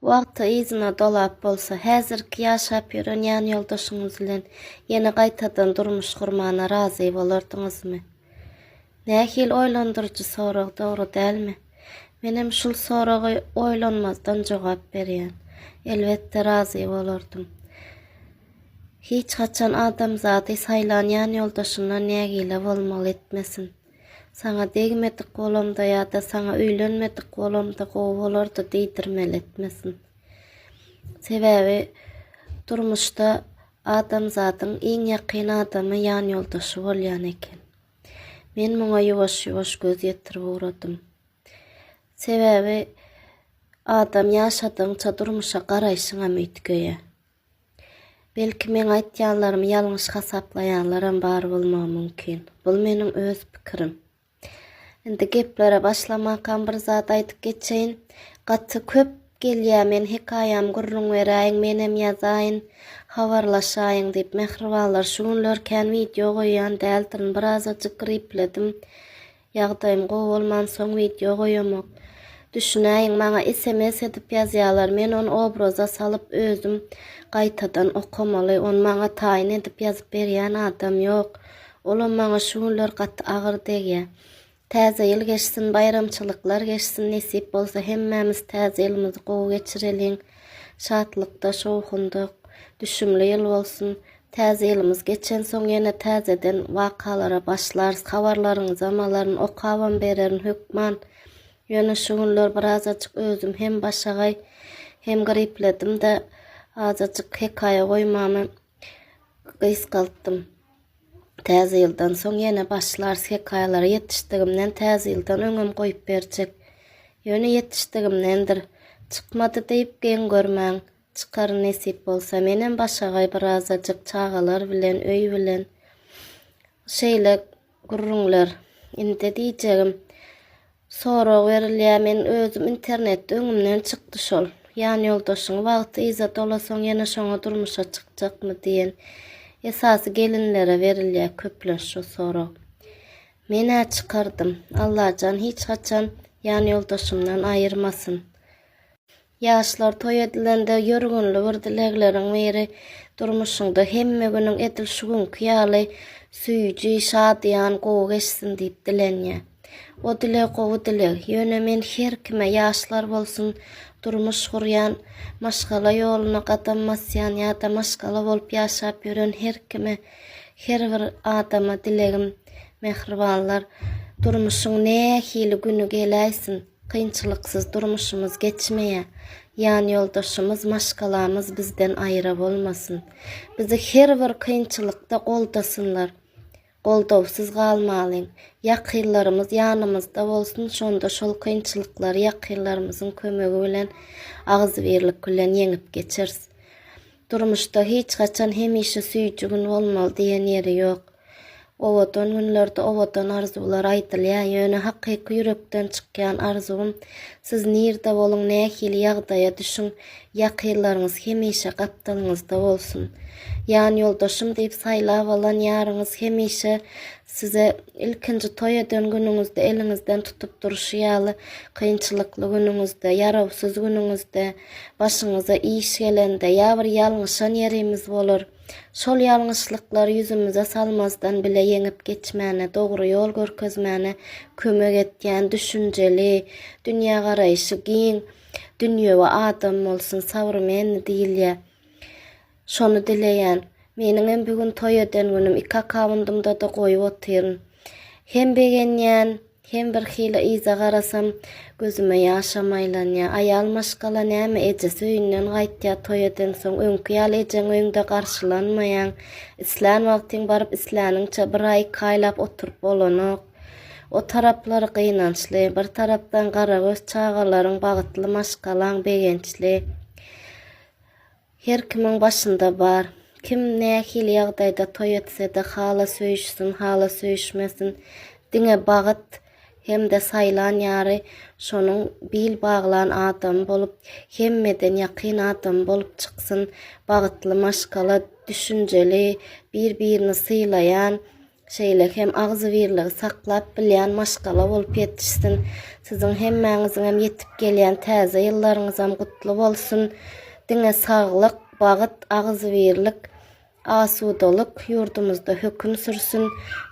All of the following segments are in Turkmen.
Wagty yzyna dolap bolsa, häzirki ýaşap ýören ýanýoldaşyňyz bilen ýene gaýtadan durmuş gurmana razy bolardyňyzmy? Nähili oýlandyryjy sorag, dogry dälmi? Menem şul soraga oýlanmazdan jogap berýän. Elbetde razy bolardym. Hiç haçan adamzady saýlan ýanýoldaşyndan nägile bolmaly etmesin. Saňa degmedik bolamda ýa-da saňa öýlenmedik bolamda gowy bolardy diýdirmeli etmesin. Sebäbi durmuşda adamzadyň iň ýakyn adamy ýanýoldaşy bolýan eken. Men muňa ýuwaş-ýuwaş göz ýetirip ugradym. Sebäbi adam ýaşadygyňça durmuşa garaýşyňam üýtgeýär. Belki meň aýtýanlarymy ýalňyş hasaplaýanlaram bar bolmagy mümkin. Bul meniň öz pikirim. Indi geplere başlamakam bir zat aýdyp geçeýin. Gaty köp gelýär men hekaýamy gürrüň beräýiň, menem ýazaýyn, habarlaşaýyň diýip. Mähribanlar şu günler kän wideo goýýan däldirin, birazajyk gripledim. Ýagdaýym gowy bolmansoň wideo goýamok. Düşünäýiň maňa sms edip ýazýalar men ony obraza salyp özüm gaýtadan okamaly ony maňa taýyn edip ýazyp berýän adam ýok olam maňa şu günler gaty agyr degýä. Täze ýyl geçsin baýramçylyklar geçsin nesip bolsa hemmämiz täze ýylymyzy gowy geçireliň şatlykda şowhunda düşümli ýyl bolsun Täze ýylymyz geçensoň ýene täzeden wakalara başlarys. Habarlaryňyzam alaryn, okabam bererin hökman. Ýöne şu günler birazajyk özüm hem başagaý, hem gripledim-de, azajyk hekaýa goýmamy gysgaltdym. Täze ýyldan soň ýene başlarys hekaýalara. Ýetişdigimden Täze ýyldan öňem goýup berjek. Ýöne ýetişdigimdendir. Çykmady diýip geň görmäň. Çykaryn nesip bolsa. Menem başagaý birazajyk çagalar bilen, öý bilen şeýle gürrüňler. Indi diýjegim, sorag berilýär, men özüm internetde öňümden çykdy şol. Ýan ýoldaşyň wagty yza dolasaň ýene şoňa durmuşa çykjakmy diýen. Esasy gelinlere berilýär köplenç şu sorag. Men-ä çykardym. Allajan hiç haçan ýan ýoldaşymdan aýyrmasyn. Ýaşlar toý edilende ýörgünli bir dilegleriň biri durmuşyňda hemme günüň edil şu günki ýaly süýji, şadyýan, gowy geçsin diýip dilenýär. O dileg gowy dileg, ýöne men her kime ýaşlar bolsun, durmuş gurýan, maşgala ýoluna gadam basýan ýa-da maşgala bolup ýaşap ýören her kime, her bir adama dilegim, mähribanlar, durmuşyň nähili güni geläýsin, Kynçylyksyz durmuşymyz geçmeýär. Ýanýoldaşymyz, maşgalamyz bizden aýra bolmasyn. Bizi her bir kynçylykda goldasynlar. Goldawsyz galmalyň. Ýakynlarymyz ýanymyzda bolsun, şonda şol kynçylyklary ýakynlarymyzyň kömegi bilen, agzybirlik bilen ýeňip geçeris. Durmuşda hiç haçan hemişe süýji gün bolmaly diýen ýeri ýok. Owadan günlerde owadan arzuwlar aýdylýar, ýöne hakyky ýürekden çykýan arzuwym siz nirde boluň nähili ýagdaýa düşüň ýakynlaryňyz hemişe gapdalyňyzda bolsun. Ýan ýoldaşym diýip saýlap alan ýaryňyz hemişe size ilkinji toý eden günüňizde eliňizden tutup durşy ýaly kynçylykly günüňizde, ýarawsyz günüňizde, Başymyza iş gelende, ýa bir ýalňyşan ýerimiz bolar. Şol ýalňyşlyklary ýüzümize salmazdan bile ýeňip geçmäne, dogry ýol görkezmäne kömek etýän düşünjeli, dünýägaraýşy giň, dünýewi adam bolsun, sabrmenli diýilýär. Şony dileýän. Meniňem bu gün toý eden günüm, iki akawundymda-da goýup otyryn. Hem begenýän, hem birhili yza garasam, gözüme ýaşam aýlanýar. Aýal maşgala näme, ejesi öýünden gaýtýar, toý edensoň, öňki ýaly ejeň öýüňde garşylanmaýaň. Islän wagtyň baryp, isläniňçe bir aý, iki aýlap oturyp bolanok. O taraplary gynançly. Bir tarapdan garagöz çagalaryň, bagtly maşgalaň begençli. Her kimiň başynda bar. Kim nähili ýagdaýda toý etsede hala söýüşsin, hala söýüşmesin, diňe bagt hem-de saýlan ýary şonuň bil baglan adamy bolup, hemmeden ýakyn adamy bolup çyksyn, bagtly maşgala, düşünjeli, bir-birini sylaýan, şeýle hem agzybirligi saklap bilýän maşgala bolup ýetişsin. Siziň hemmäňiziňem ýetip gelýän täze ýyllaryňyzam gutly bolsun. Diňe saglyk, bagyt, agzybirlik, asudalyk ýurdumyzda höküm sürsün.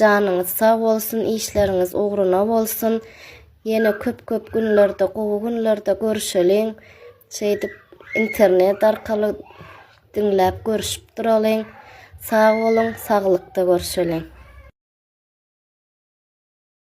Janyňyz sag bolsun, işleriňiz ugruna bolsun. Ýene köp-köp günlerde, gowy günlerde görüşeliň. Şeýdip internet arkaly Diňläp görüşip duralyň. Sag boluň, saglykda görşeliň.